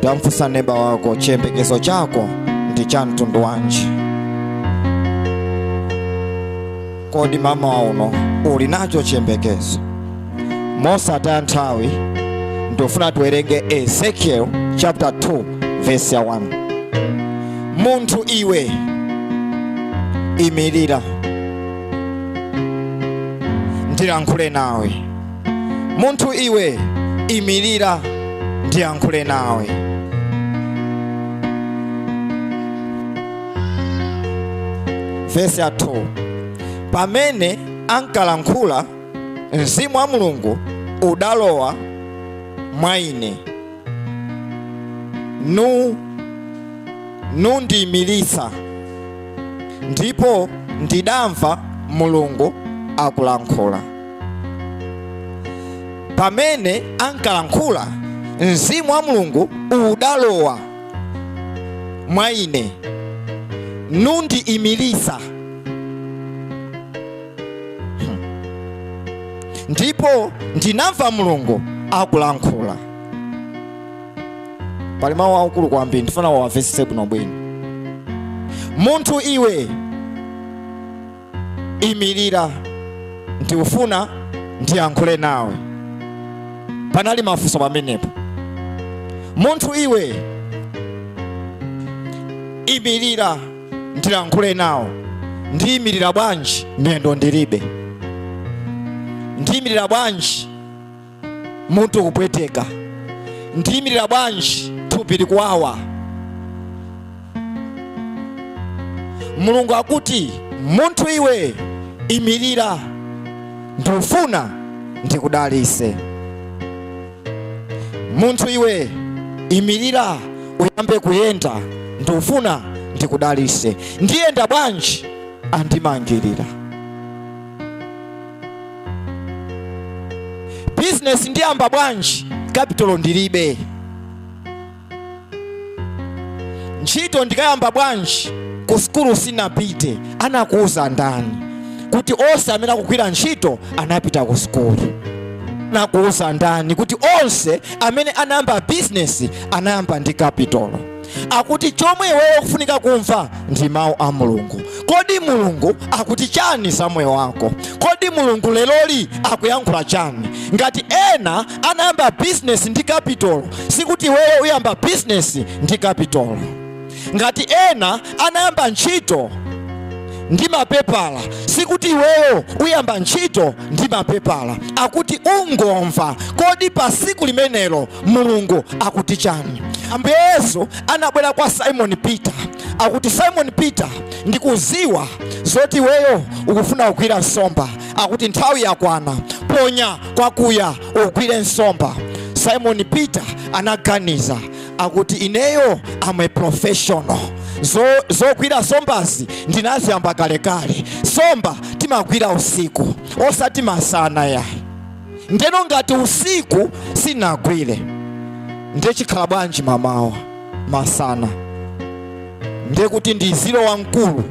tamfunsa neba wako chiyembekezo chako ndi cha mtundu wanji kodi mama wauno uli nacho chiyembekezo mosataya nthawi ndifuna tiwerenge ezekiel chapter 2 verse ya 1 munthu iwe imirira ndilankhule nawe munthu iwe imirira ndiyankhule nawe vesi ya 2 pamene ankalankhula mzimu wa mulungu udalowa mwa ine nundiyimiritsa ndipo ndidamva mulungu akulankhula pamene ankalankhula mzimu wa mulungu udalowa mwa ine nundiimiritsa ndipo ndinamva mulungu akulankhula pali mawu akulu kwambiri ndifuna uwamvetsetse bwinobwino munthu iwe imirira ndikufuna ndiyankhule nawe panali mafunso pamenepo munthu iwe imirira ndilankhule nawe ndiyimirira bwanji miyendo ndilibe ndiyimirira bwanji mutu kupweteka ndiyimirira bwanji thupi likuwawa mulungu akuti munthu iwe imirira ndikufuna ndikudalitse munthu iwe imirira uyambe kuyenda ndikufuna ndikudalitse ndiyenda bwanji andimangirira bizinesi ndiyamba bwanji kapitolo ndilibe ntchito ndikayamba bwanji ku sukulu sinapite anakuuza ndani kuti onse amene akugwira ntchito anapita ku sukulu anakuuza ndani kuti onse amene anayamba bizinesi anayamba ndi kapitolo akuti chomwe iweyo ukufunika kumva ndi mawu a mulungu kodi mulungu akuti chani za moyo wako kodi mulungu leroli akuyankhula chani ngati ena anayamba bizinesi ndi kapitolo sikuti iweyo uyamba bizinesi ndi kapitolo ngati ena anayamba ntchito ndi mapepala sikuti iweyo uyamba ntchito ndi mapepala akuti ungomva kodi pa siku limenelo mulungu akuti chani ambuye yesu anabwera kwa simoni peter akuti simoni peter ndikuziwa zoti iweyo ukufuna kugwira nsomba akuti nthawi yakwana ponya kwakuya ugwire nsomba simoni peter anaganiza akuti ineyo am a professional zogwira sombazi ndinaziyamba kalekale somba timagwira usiku osati masana yayi ndeno ngati usiku sinagwire ndiye chikhala bwanji mamawa masana ndiye kuti ndi ziro wamkulu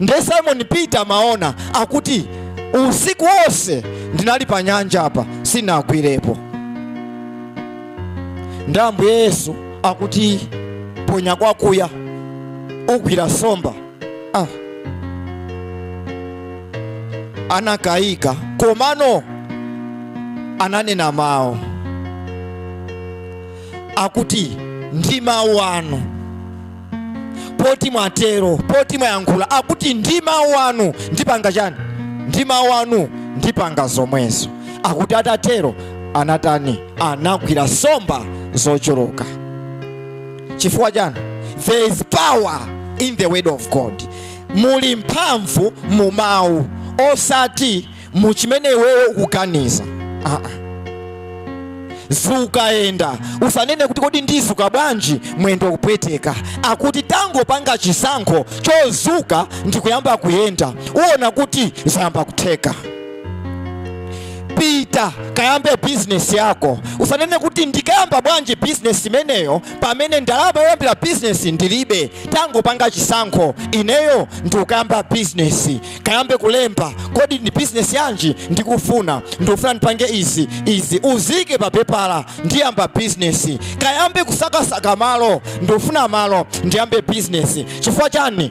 ndiye simon peter amaona akuti usiku wonse ndinali pa nyanja apa sinagwirepo ndi ambuye yesu akuti ponya kwakuya ugwira somba anakayika komano ananena mawu akuti ndi mawu anu poti mwatero poti mwayankhula akuti ndi mawu anu ndipanga chani ndi mawu anu ndipanga zomwezo akuti atatero anatani anagwira nsomba zochuluka chifukwa chani there is power in the word of god muli mphamvu mu mawu osati mu chimene iweyo ukuganiza ah -ah. zuka yenda usanene kuti kodi ndizuka bwanji mwendo kupweteka akuti tangopanga chisankho chozuka ndikuyamba kuyenda uona kuti zayamba kutheka pita kayambe bizinesi yako usanene kuti ndikayamba bwanji bizinesi imeneyo pamene ndalama yoyambira bizinesi ndilibe tangopanga chisankho ineyo ndikukayamba bizinesi kayambe kulemba kodi ndi bizinesi yanji ndikufuna ndikufuna ndipange izi izi uzike pa pepala ndiyamba bizinesi kayambe kusakasaka malo ndikufuna malo ndiyambe bizinesi chifukwa chani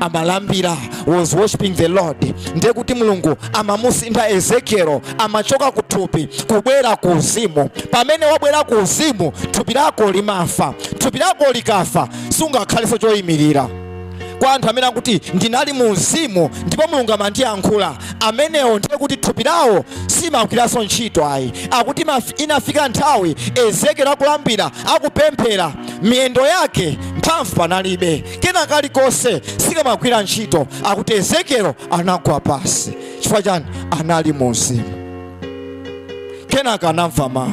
amalambira was worshiping the lord ndiye kuti mulungu amamusintha ezekielo amachoka ku thupi kubwera ku uzimu pamene wabwera ku uzimu thupi lako limafa thupi lako likafa sungakhalenso choyimirira kwa anthu amene akuti ndinali mu uzimu ndipo mulungu amandiyankhula amenewo ndiye kuti thupi lawo simagwiranso ntchito ayi akuti inafika nthawi ezekielo akulambira akupemphera miyendo yake mphamvu panalibe kena kalikonse sikamagwira ntchito akuti ezekielo anagwa pasi chifukwa chani anali mu uzimu kenaka anamva mawu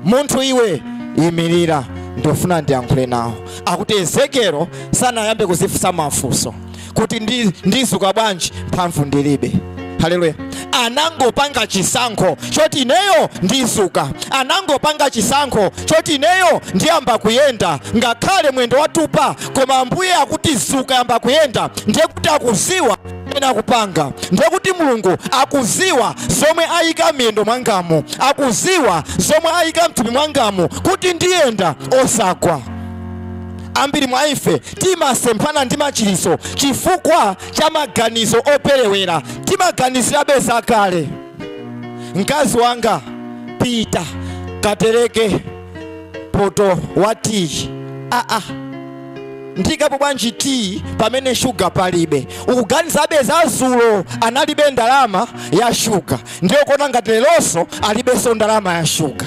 munthu iwe imirira ndifuna ndiyankhule nawo akuti ezekielo sanayambe kuzifunsa mafunso kuti ndi- ndizuka bwanji mphamvu ndilibe haleluya anangopanga chisankho choti ineyo ndizuka anangopanga chisankho choti ineyo ndiyamba kuyenda ngakhale mwendo watupa koma ambuye akuti zuka yamba kuyenda ndiye kuti akuziwa zimene akupanga ndiye kuti mulungu akuziwa zomwe ayika miyendo mwangamu akuziwa zomwe ayika mthupi mwangamu kuti ndiyenda osagwa Ambiri mwa ife timasemphana ndi machiritso chifukwa cha maganizo operewera. Timaganizirabe zakale. Mkazi wanga, pita katereke poto wa tiyi. Aa, ndikapo bwanji tiyi pamene shuga palibe? Ukuganizabe za zulo analibe ndalama ya shuga, ndiye ukuona ngati leronso alibenso ndalama ya shuga.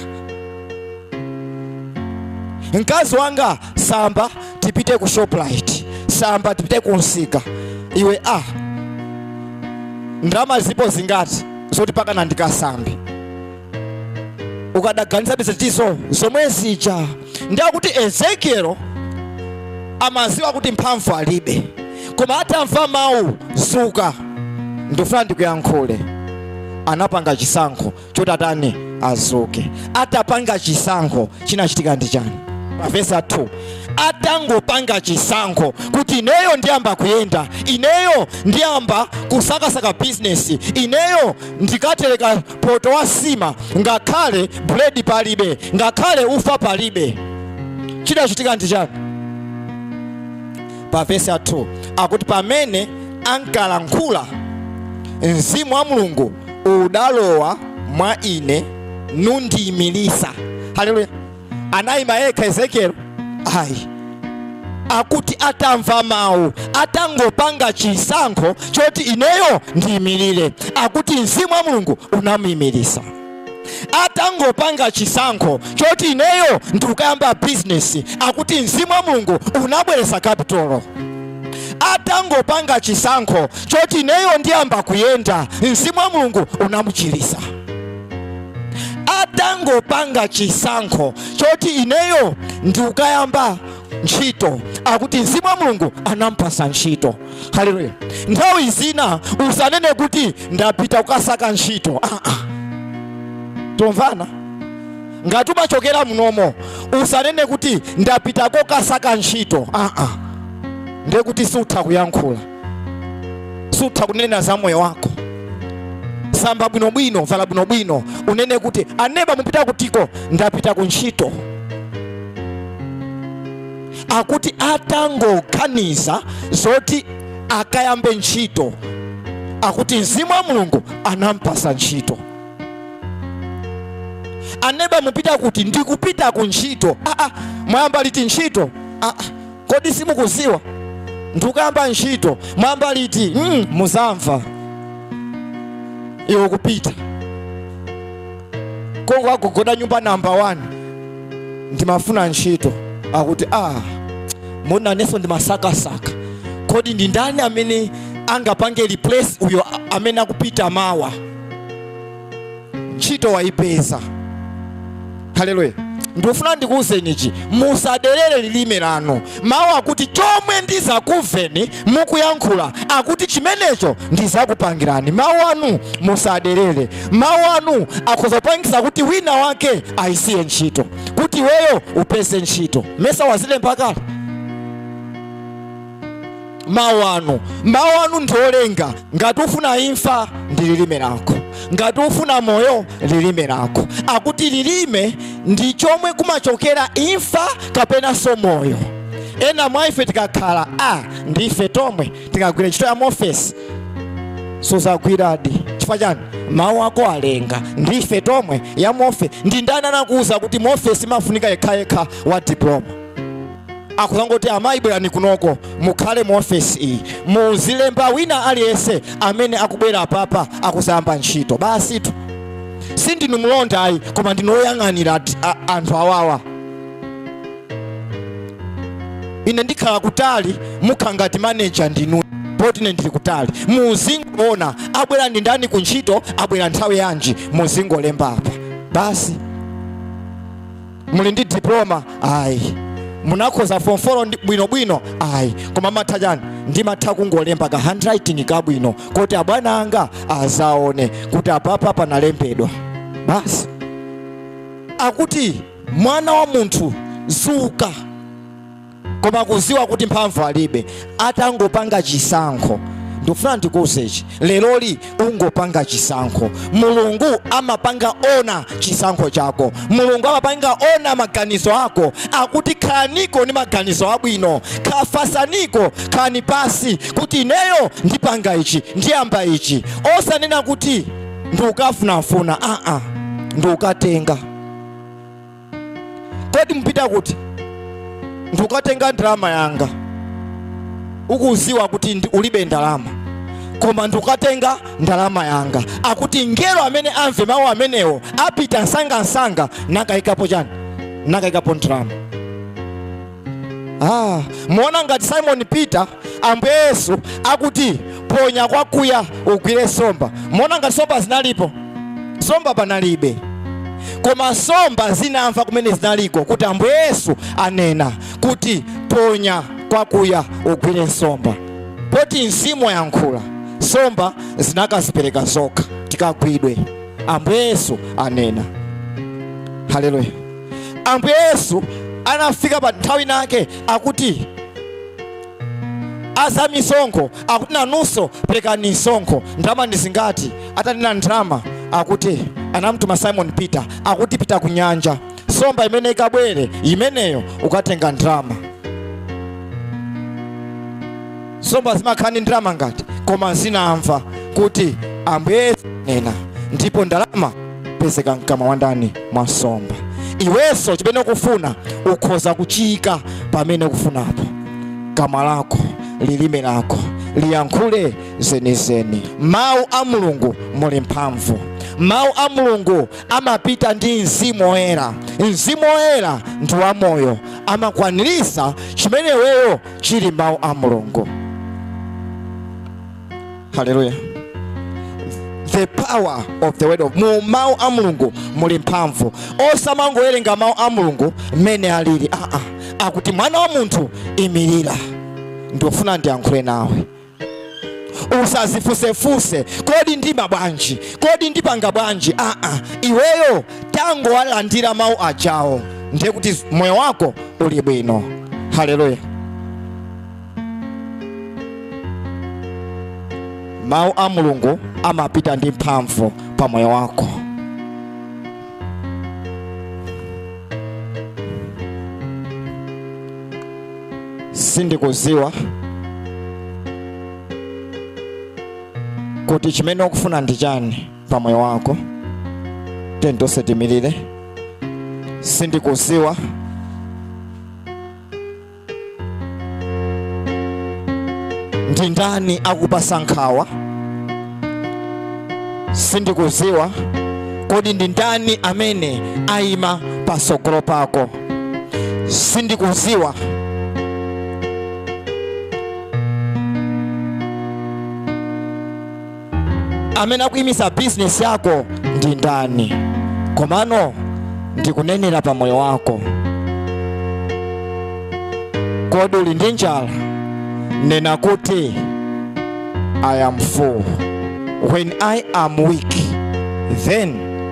mkazi wanga samba tipite ku shoprite samba tipite ku msika iwe a ndalama zipo zingati zoti mpakana ndikasambe ukadaganizabe zinthu zomwe zija ndiye kuti ezekielo amaziwa kuti mphamvu alibe koma atamva mawu zuka ndifuna ndikuyankhule anapanga chisankho choti atani azuke atapanga chisankho chinachitika ndi chani pavesa 2 atangopanga chisankho kuti ineyo ndiyamba kuyenda ineyo ndiyamba kusakasaka bizinesi ineyo ndikatereka poto wa sima ngakhale buledi palibe ngakhale ufa palibe chinachitika ndi chani pa vesi 2 akuti pamene ankalankhula mzimu wa mulungu udalowa mwa ine nundiyimilisa haleluya anayima yekha ezekieli ayi akuti atamva mawu atangopanga chisankho choti ineyo ndiyimilire akuti mzimu wa mulungu unamuyimilisa atangopanga chisankho choti ineyo ndikukayamba bizinesi akuti mzimu wa mulungu unabweretsa kapitolo atangopanga chisankho choti ineyo ndiyamba kuyenda mzimu wa mulungu unamuchiritsa atangopanga chisankho choti ineyo ndikukayamba ntchito akuti mzimu wa mulungu anampasa ntchito haleluya nthawi zina usanene kuti ndapita kukasaka ntchito ah, ah. tomvana ngati umachokera munomo usanene kuti ndapita kokasaka ntchito ah, ah. ndiye kuti sutha kuyankhula sutha kunena za moyo wako samba bwinobwino vala bwinobwino unene kuti aneba mupita kutiko ndapita ku ntchito akuti atangoganiza zoti akayambe ntchito akuti mzimu wa mulungu anampasa ntchito aneba mupita kuti ndikupita ku ntchito aa mwayamba liti ntchito aa kodi simukuziwa ndikuyamba ntchito mwayamba liti mm, muzamva iwe kupita konko agogoda nyumba namba 1 ndimafuna ntchito akuti a ah, moona inenso ndimasakasaka kodi ndi ndani amene angapange replace uyo amene akupita mawa ntchito waipeza haleluya ndikufuna ndikuwuzeni ichi musaderere lilime lanu Mawu akuti chomwe ndizakuveni mukuyankhula akuti chimenecho ndizakupangirani. Mawu anu musaderere. Mawu anu akhoza kupangisa kuti wina wake ayisiye ntchito, kuti iweyo upeze ntchito. Mesa wazilemba kale mawu anu mawu anu ndi olenga ngati ufuna imfa ndi lilime lako ngati ufuna moyo lilime lako akuti lilime ndi chomwe kumachokera imfa kapenanso moyo ena mwa ife tikakhala a ndi ife tomwe tikagwire ntchito ya mofesi suzagwiradi chifukwa chani mawu ako alenga ndi ife tomwe ya mofe ndi ndani anakuwuza kuti mofesi imafunika yekhayekha wa diploma akuzangoti amayi bwerani kunoko mukhale mu ofesi iyi muzilemba wina aliyense amene akubwera apapa akuzayamba ntchito basitu sindinu mlonda ayi koma ndinu oyang'anira ati- a- anthu awawa ine ndikhala kutali mukhala ngati maneja ndinu poti ine ndili kutali muzingoona abwera ndi ndani ku ntchito abwera nthawi yanji muzingolemba apa basi muli ndi diploma ayi munakhoza form 4 ndi- bwinobwino ayi koma mumatha chani ndimatha kungolemba ka handwriting kabwino kuti abwana anga azaone kuti apapa panalembedwa basi akuti mwana wa munthu zuka koma kuziwa kuti mphamvu alibe atangopanga chisankho ndikufuna ndikuuze ichi leroli ungopanga chisankho mulungu amapanga honour chisankho chako mulungu amapanga honour maganizo ako akuti khalaniko ndi maganizo abwino kha- fasaniko khani pasi kuti ineyo ndipanga ichi ndiyamba ichi osanena kuti ndikukafunafuna aa ndikukatenga kodi mupita kuti ndikukatenga ndalama yanga ukuziwa kuti ndi- ulibe ndalama koma ndikukatenga ndalama yanga akuti mngelo amene amve mawu amenewo apita nsangansanga nakayikapo chani nakayikapo ndalama Ah, muona ngati Simon Peter Ambuye Yesu akuti ponya kwakuya ugwire nsomba. Muona ngati nsomba zinalipo. Nsomba panalibe. Koma nsomba zinamva kumene zinaliko kuti Ambuye Yesu anena kuti ponya kwakuya ugwire nsomba. Poti mzimu wayankhula nsomba zinakazipereka zokha tikagwidwe. Ambuye Yesu anena. Haleluya. ambuye yesu anafika pa nthawi nake akuti aza misonkho akuti nanunso perekani misonkho ndalama ndi zingati atanena ndalama akuti anamtuma simon peter akuti pita ku nyanja somba imene ikabwere imeneyo ukatenga ndalama nsomba zimakhala ndi ndalama ngati koma zinamva kuti ambuye yesu anena ndipo ndalama pezeka mkamwa wa ndani mwa nsomba iwenso chimene ukufuna ukhoza kuchiyika pamene ukufunapo kamwa lako lilime lako liyankhule zenizeni mawu a mulungu muli mphamvu mawu a mulungu amapita ndi mzimu woyera mzimu woyera ndi wamoyo amakwanirisa chimene iweyo chili mawu a mulungu haleluya the power of the word of mu mawu a mulungu muli mphamvu osamangowerenga mawu a mulungu mmene alili aa akuti mwana wa munthu imirira ndikufuna ndiyankhule nawe usazifusefuse kodi ndima bwanji kodi ndipanga bwanji aa ah, ah. iweyo tangowalandira mawu ajawo ndiye kuti moyo wako uli bwino haleluya mawu a mulungu amapita ndi mphamvu pa moyo wako sindikuziwa kuti chimene ukufuna ndi chani pa moyo wako tiyeni tonse timirire sindikuziwa ndi ndani akupasa nkhawa sindikuziwa kodi ndi ndani amene ayima pasogolo pako sindikuziwa amene akuimisa bizinesi yako ndi ndani komano ndikunenera pa moyo wako kodi uli ndi njala nena kuti i am full when i am weak then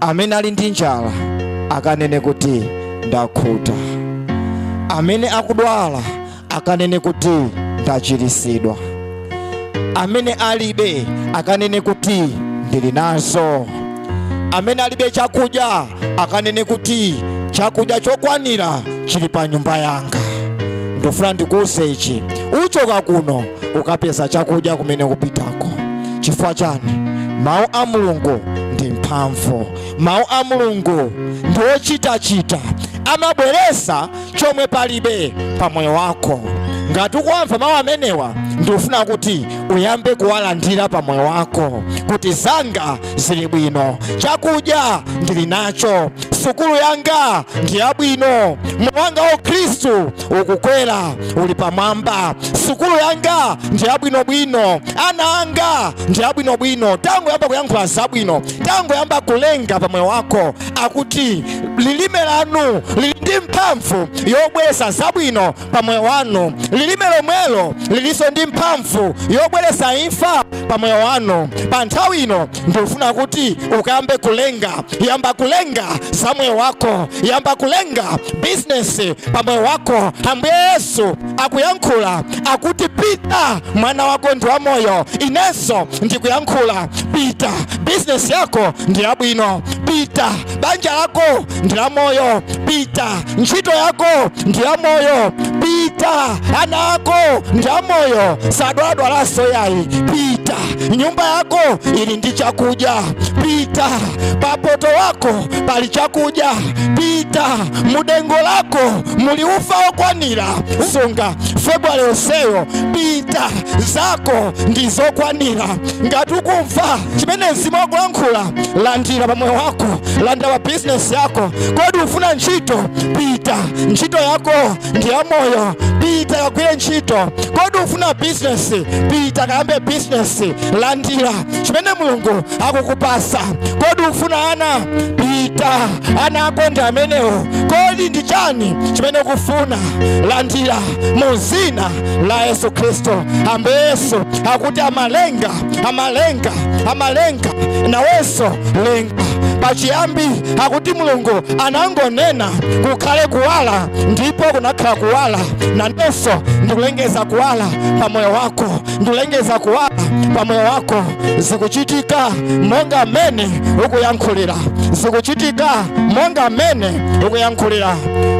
amene ali ndi njala akanene kuti ndakhuta amene akudwala akanene kuti ndachiritsidwa amene alibe akanene kuti ndili nazo amene alibe chakudya akanene kuti chakudya chokwanira chili pa nyumba yanga ndofuna ndikuwuze ichi uchoka kuno ukapeza chakudya kumene kupitako chifukwa chani mawu a mulungu ndi mphamvu mawu a mulungu ndi ochitachita amabweresa chomwe palibe pa moyo wako ngati ukuwamva mawu amenewa ndikufuna kuti uyambe kuwalandira pa moyo wako kuti zanga zili bwino chakudya ndili nacho sukulu yanga ndi yabwino moyo wanga wa ukhristu ukukwera uli pamwamba sukulu yanga ndi yabwinobwino ana anga ndi abwinobwino tangoyamba kuyankhula zabwino tangoyamba kulenga pamoyo wako akuti lilime lanu lili ndi mphamvu yobweresa zabwino pamoyo wanu lilime lomwelo lilinso ndi mphamvu yobweresa imfa pamoyo wanu pa nthawi ino ndofuna kuti ukayambe kulenga yamba kulenga za moyo wako yamba kulenga bizinesi pa moyo wako ambuye yesu akuyankhula akuti pita mwana wako ndi wa moyo inenso ndikuyankhula pita bizinesi yako ndi yabwino pita banja lako ndi la moyo pita ntchito yako ndi ya moyo pita ana ako ndi a moyo sadwaladwalanso yayi pita nyumba yako ili ndi chakudya pita papoto wako pali chakudya pita mudengo lako muli ufa wokwanira sunga februwale yonseyo pita zako ndi zokwanira ngati ukumva chimene mzimu akulankhula landira pamoyo wako landira pa bizinesi yako kodi ufuna ntchito pita ntchito yako ndi ya moyo pita kagwire ntchito kodi ufuna bizinesi pita kayambe bizinesi landira chimene mulungu akukupasa kodi ufuna ana pita ana ako ndi amenewo kodi ndi chani chimene ukufuna landira mu zina la yesu khristu ambuye yesu akuti amalenga amalenga amalenga nawenso lenga pachiyambi akuti mulungu anangonena kukhale kuwala ndipo kunakhala kuwala nanenso ndikulengeza kuwala pa moyo wako ndikulengeza kuwala pa moyo wako zikuchitika monga mmene ukuyankhulira zikuchitika monga mmene ukuyankhulira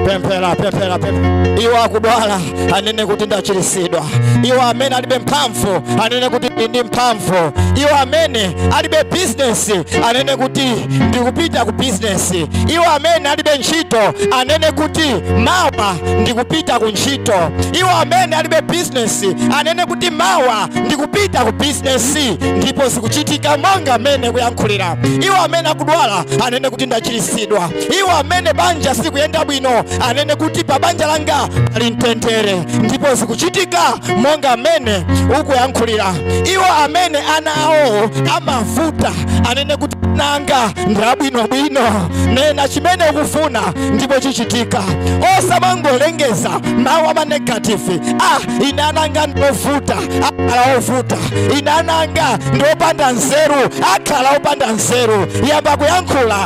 pemphera pemphera pemphera iwe wakudwala anene kuti ndachiritsidwa iwo amene alibe mphamvu anene kuti ndili ndi mphamvu iwo amene alibe bizinesi anene kuti ndikupita ku bizinesi iwo amene alibe ntchito anene kuti mawa ndikupita ku ntchito iwo amene alibe bizinesi anene kuti mawa ndikupita ku bizinesi ndipo zikuchitika monga mmene ukuyankhulira iwo amene akudwala anene kuti ndachiritsidwa iwo amene banja sikuyenda bwino anene kuti pa banja langa pali mtendere ndipo zikuchitika monga mmene ukuyankhulira iwo amene ana awo amavuta anene kuti ananga ndabwinobwino nena chimene ukufuna ndipo chichitika osamangolengeza mawu ama negative ah ine ananga ndovuta akhala ovuta ine ananga ndopanda nzeru akhala opanda nzeru yamba kuyankhula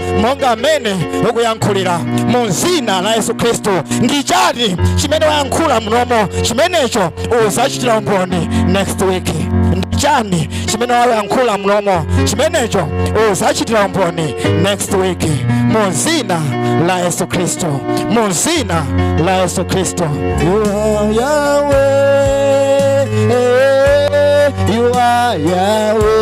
monga mmene ukuyankhulira mu dzina la yesu khristu ndi chani chimene wayankhula mlomo chimenecho uzachitira umboni next week ndi chani chimene wayankhula mlomo chimenecho uzachitira umboni next week mu dzina la yesu khristu mu dzina la yesu khristu you are Yahweh, you are Yahweh.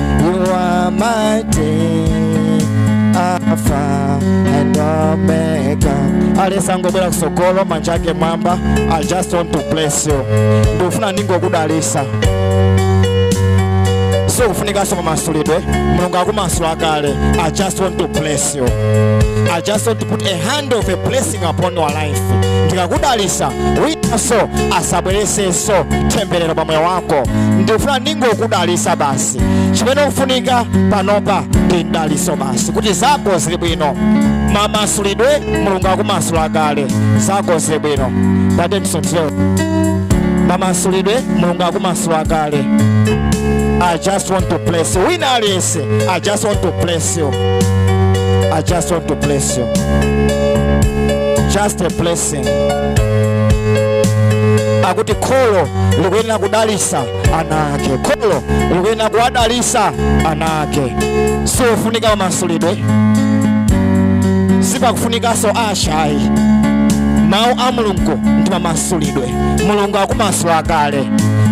You are mighty, Alpha and Omega. Aliyense angobwera kusogolo manja ake mwamba. I just want to bless you. Ndikufuna ndingokudalisa. Sukufunikanso mamasulidwe. Mulungu akumasula kale. I just want to bless you. I just want to put a hand of a blessing upon your life. life ndikakudalisa winanso asabweresenso temberero pa moyo wako ndikufuna ndingokudalisa basi chimene ukufunika panopa ndi mdaliso basi kuti zako zikhale bwino mamasulidwe mulungu akumasula kale zako zili bwino patemsotyo mamasulidwe mulungu akumasula kale i just want to bless wina aliyense i just want to bless bless you. I just want to bless you. Just a blessing. akuti kholo likuyenera kudalisa ana ake kholo likuyenera kuwadalisa ana ake siufunika mamasulidwe sipakufunikanso ashayi mawu a mulungu ndi mamasulidwe mulungu akumasula kale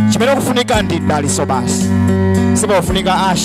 chimene ukufunika ndi mdaliso basi sipakufunika asha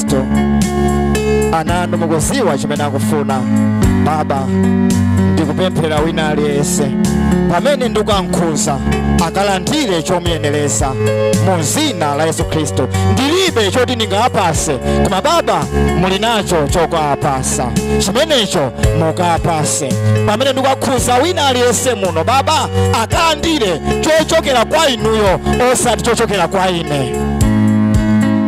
khristu ana anu mukuziwa chimene akufuna baba ndikupemphera wina aliyense pamene ndikuwakhudza akalandire chomuyenereza mu zina la yesu khristu ndilibe choti ndingawapase koma baba muli nacho chokawapasa chimenecho mukawapase pamene ndikukakhudza wina aliyense muno baba akalandire chochokera kwa inuyo osati chochokera kwa ine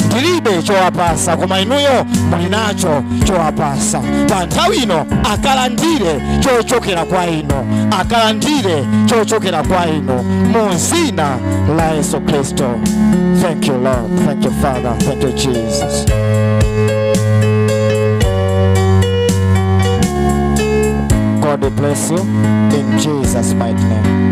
ndilibe chowapasa koma inuyo muli nacho chowapasa pa nthawi ino akalandire chochokera kwa inu akalandire chochokera kwa inu mu dzina la yesu khristu thank you lord thank you father thank you jesus god bless you in jesus mighty name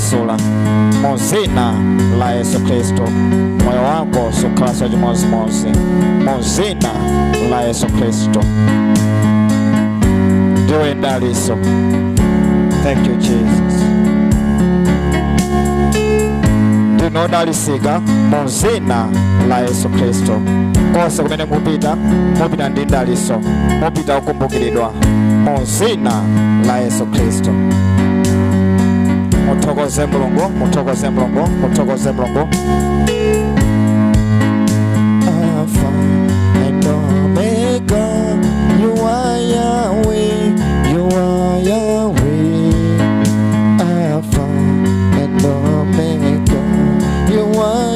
kumasula mu zina la yesu khristu moyo wako sukhalanso chimodzimodzi mu zina la yesu khristu ndiwe mdalitso thank you jesus ndinu odalitsika mu zina la yesu khristu konse kumene mupita mupita ndi mdalitso mupita okumbukiridwa mu zina la yesu khristu muthokoze mulungu muthokoze mulungu muthokoze mulungu Alpha and Omega, you are Yahweh, you are Yahweh. Alpha and Omega, you are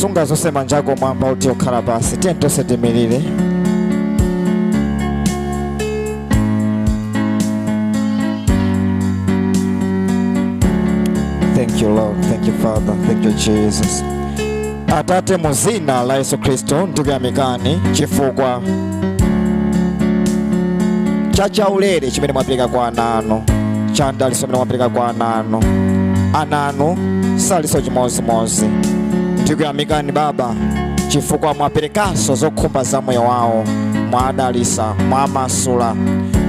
sunga zonse manja ako m'mwamba oti okhala pansi tiyeni tonse tiimirire thank you lord thank you father thank you jesus atate mu zina la yesu khristu ndikuyamikani chifukwa cha chaulere chimene mwapereka kwa ana anu cha mdalitso chimene mwapereka kwa ana anu ana anu salinso chimodzimodzi ndikuyamikani baba chifukwa mwaperekanso zokhumba za moyo wawo mwadalitsa mwamasula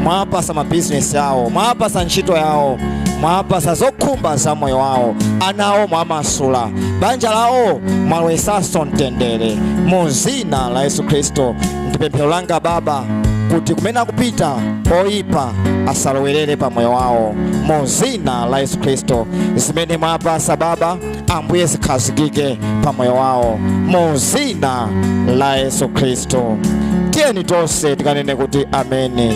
mwawapasa mabizinesi awo mwawapasa ntchito yawo mwawapasa zokhumba za moyo wawo ana awo mwamasula banja lawo mwalowetsanso mtendere muzi dzina la yesu khristu ndi pemphero langa baba kuti kumene akupita oyipa asalowerere pa moyo wawo mu dzina la yesu khristu zimene mwawapasa baba ambuye zikhazikike pa moyo wawo mu dzina la yesu khristu tiyeni tonse tikanene kuti ameni